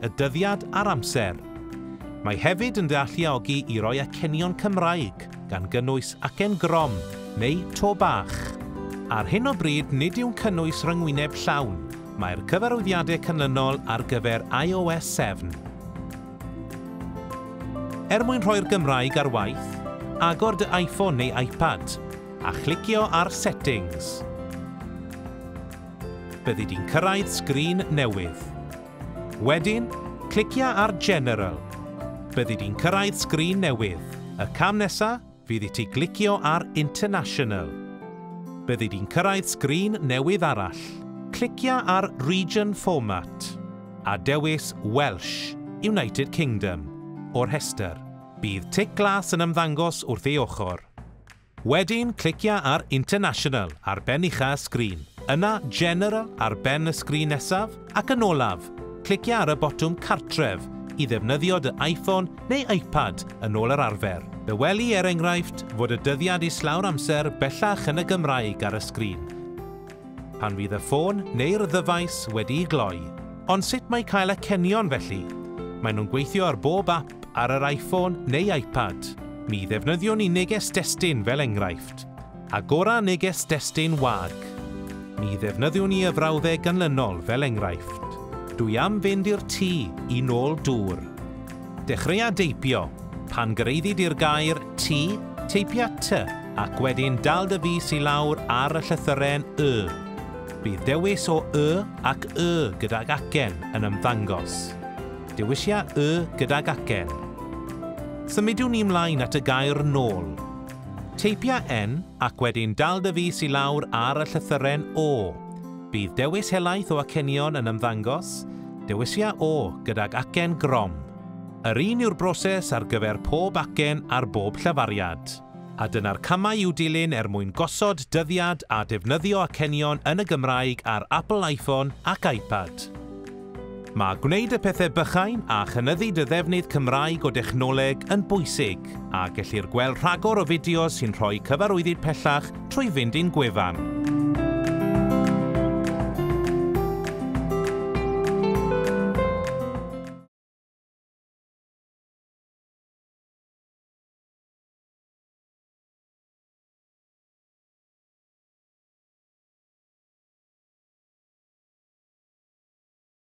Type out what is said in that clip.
y dyddiad a'r amser. Mae hefyd yn dealluogi i roi acenion Cymraeg, gan gynnwys acen grom neu to bach. Ar hyn o bryd nid yw'n cynnwys rhyngwyneb llawn, mae'r cyfarwyddiadau canlynol ar gyfer iOS 7. Er mwyn rhoi'r Gymraeg ar waith, agor dy iPhone neu iPad a chlicio ar Settings. Byddi di'n cyrraedd sgrin newydd. Wedyn, clicia ar General. Byddi di'n cyrraedd sgrin newydd. Y cam nesa fydd i ti glicio ar International. Byddi di'n cyrraedd sgrin newydd arall. Clicia ar Region Format, a dewis Welsh, United Kingdom, o'r rhestr. Bydd tic glas yn ymddangos wrth ei ochr. Wedyn clicia ar International ar ben ucha' y sgrin, yna General ar ben y sgrin nesaf, ac yn olaf, clicia ar y botwm Cartref i ddefnyddio dy Iphone neu Ipad yn ôl yr arfer. Fe weli, er enghraifft, fod y dyddiad islaw'r amser bellach yn y Gymraeg ar y sgrin pan fydd y ffôn neu'r ddyfais wedi'i gloi. Ond sut mae cael acenion felly? Maen nhw'n gweithio ar bob ap ap ar yr iPhone neu iPad, mi ddefnyddiwn i neges destun fel enghraifft. Agora neges destun wag. Mi ddefnyddiwn i y frawddeg ganlynol fel enghraifft, Dwi am fynd i'r tŷ i nôl dŵr. Dechreuâ deipio, pan gyreiddi di'r gair 'tŷ', teipia 'ty' ac wedyn dal dy fys i lawr ar y llythyren 'y'. Bydd dewis o 'y' ac 'y' gydag acen yn ymddangos. Dewisia y gydag acen. Symudiwn ni mlaen at y gair nôl. Teipia en ac wedyn dal dy fys i lawr ar y llythyren o. Bydd dewis helaeth o acenion yn ymddangos, dewisia o gydag acen grom. Yr un yw'r broses ar gyfer pob acen ar bob llafariad. A dyna'r camau i'w dilyn er mwyn gosod dyddiad a defnyddio acenion yn y Gymraeg ar Apple iPhone ac iPad. Mae gwneud y pethau bychain a chynyddu dy ddefnydd Cymraeg o dechnoleg yn bwysig, a gellir gweld rhagor o fideos sy'n rhoi cyfarwyddyd pellach trwy fynd i'n gwefan.